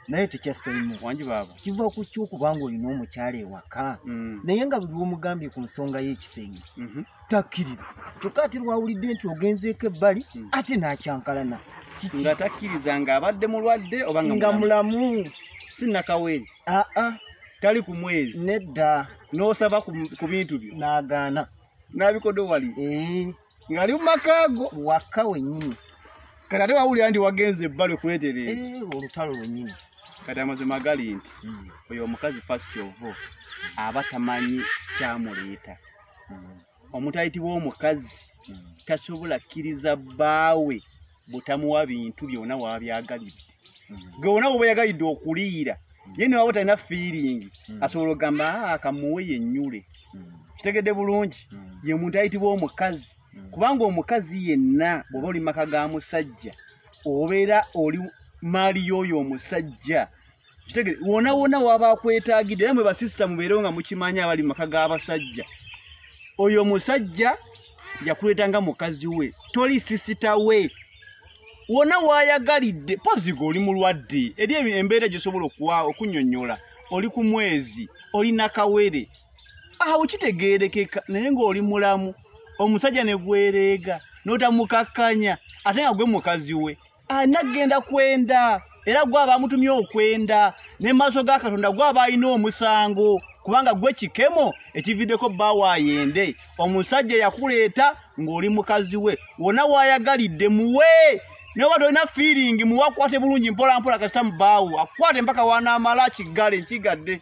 naye tekyasaimu wangi baaba kiva ku ki okubanga olina omukyala ewaka mm. naye nga buli womugambye ku nsonga y'ekisenge mhm. takkiriza kyokka ate lwawulidde nti ogenzeeko ebbali mm. ate n'akyankalana nga takkiriza ng'abadde mulwadde oba nga mulamu sinakaweri aa ah, ah. tali ku mwezi nedda n'osaba ku bintu byo n'agaana n'abikodo wali eh. ngali mumakago waka wenyini kati ate wawulira nti wagenze ebbali okwetereeza eh, olutalo lwenyini kati amazima gali nti hmm. oyo omukazi fast ovo aba tamanyi kyamuleeta hmm. omutayitibwa omukazi hmm. tasobola kkiriza bbaawe butamuwa bintu byona wabyagalidde hmm. gwe wona woba yagalidde okuliira hmm. ye newaba talina fiiringi hmm. asobola okugamba ah, kamuwe yenyule kitegedde bulungi ye muntu ayitibwa omukazi kubanga omukazi yenna bwoba oli maka ga musajja obeera oli maali yoyo omusajja kitegere wona wona waba akwetagidde era mwe basisita mubeerewo nga mukimanyi abali mu maka g'abasajja oyo musajja yakuleeta nga mukazi we toli sisita we wona wayagalidde poziga oli mulwadde eri embeera gyosobola okuwa okunyonyola oli ku mwezi oli nakawere awo kitegeerekeka naye ng'oli mulamu omusajja ne gwereega n'otamukakkanya ate nga gwe mukazi we anaggenda kwenda era gwe aba amutumye okwenda ne maaso ga katonda gwe aba alina omusango kubanga gwe kikemo ekividdeko bba waayende omusajja yakuleeta ng'oli mukazi we wona waayagalidde muwe noba tolina fiiringi muwakwate bulungi mpolampola kasita mubaawo akukwate mpaka wanaamala kiggale nkigadde